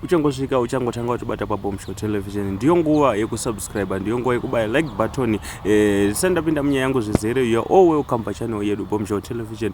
uchangosvika uchangotanga uchibata pabombshow television ndiyo nguva yekusubscribe ndiyo nguva yekubaya like button eh, sani ndapinda munyaya yangu zvizere youare all welcome pachannel yedu bombshow television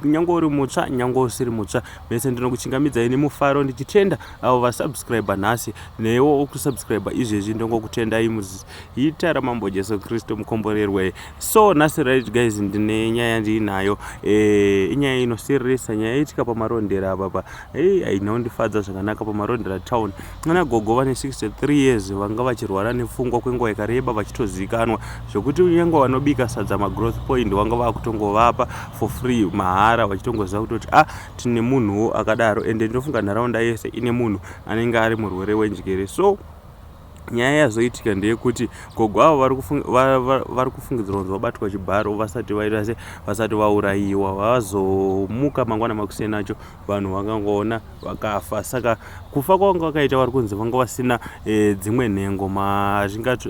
nyange uri mutsva nyange usiri mutsva mese ndinokuchingamidza ini mufaro ndichitenda avo vasubscribe nhasi newo okusubscribe izvezvi ndongokutendai muzita ramambo jesu kristu mukomborerwe so nhasi right guys ndine nyaya ndiinayo eh, inyaya inosiririsa nyaya itika pamarondera apapa hei ainondifadza zvakanaka pamarodhera town ana gogo vane 63 years vanga vachirwara nepfungwa kwenguva yakareba vachitozikanwa zvekuti nyangwe vanobika sadza magrowth point vanga vakutongovapa for free mahara vachitongoziva kutoti a ah, tine munhuwo akadaro ende ndinofunga nharaunda yese ine munhu anenge ari murwere wenjere so Nyaya yazoitika ndeyekuti gogo avo vari kufungidzirwa kunzi vabatwa chibharo vasati vaita se vasati vaurayiwa vazomuka mangwana makuseni acho vanhu vakangoona vakafa saka kufa kwavanga vakaita vari kunzi vanga vasina e, dzimwe nhengo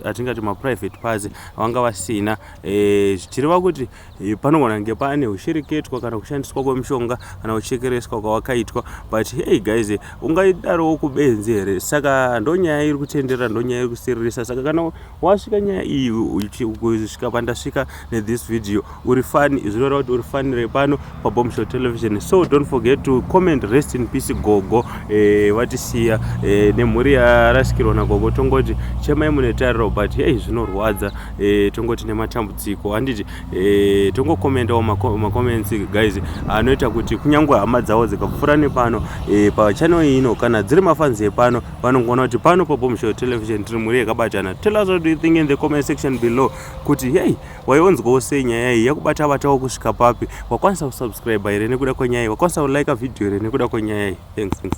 hatingati maprivate parts vanga vasina e, zvichireva kuti Eh, panogona kunge pane ushereketwa kana kushandiswa kwemushonga kana kuchekereswa kwawakaitwa but hey guys eh, ungaidarowo kubenzi here saka ndonyaya iri kutenderera ndonyaya iri kusiririsa saka kana wasvika nyaya iyi kusvika pandasvika nethis video uri fani zvinoreva kuti uri fanire pano pabombshell television so don't forget to comment rest in peace gogo eh, vatisiya eh, nemhuri yarasikirwa nagogo tongoti chemai mune tariro but hei zvinorwadza eh, tongoti nematambudziko handiti eh, tongokomendawo macomments ma guys anoita kuti kunyange hama dzavo dzikapfuura nepano eh, pachannel ino kana dziri mafanzi epano vanongoona kuti pano pabombshell television tiri mhuri yakabatana tell us what do you think in the comment section below kuti hei Waionzwawo sei nyaya iyi yakubata batawo kusvika papi? Wakwanisa kusubscriber here nekuda kwenyaya iyi? Wakwanisa kulike video here nekuda kwenyaya iyi? Thanks, thanks.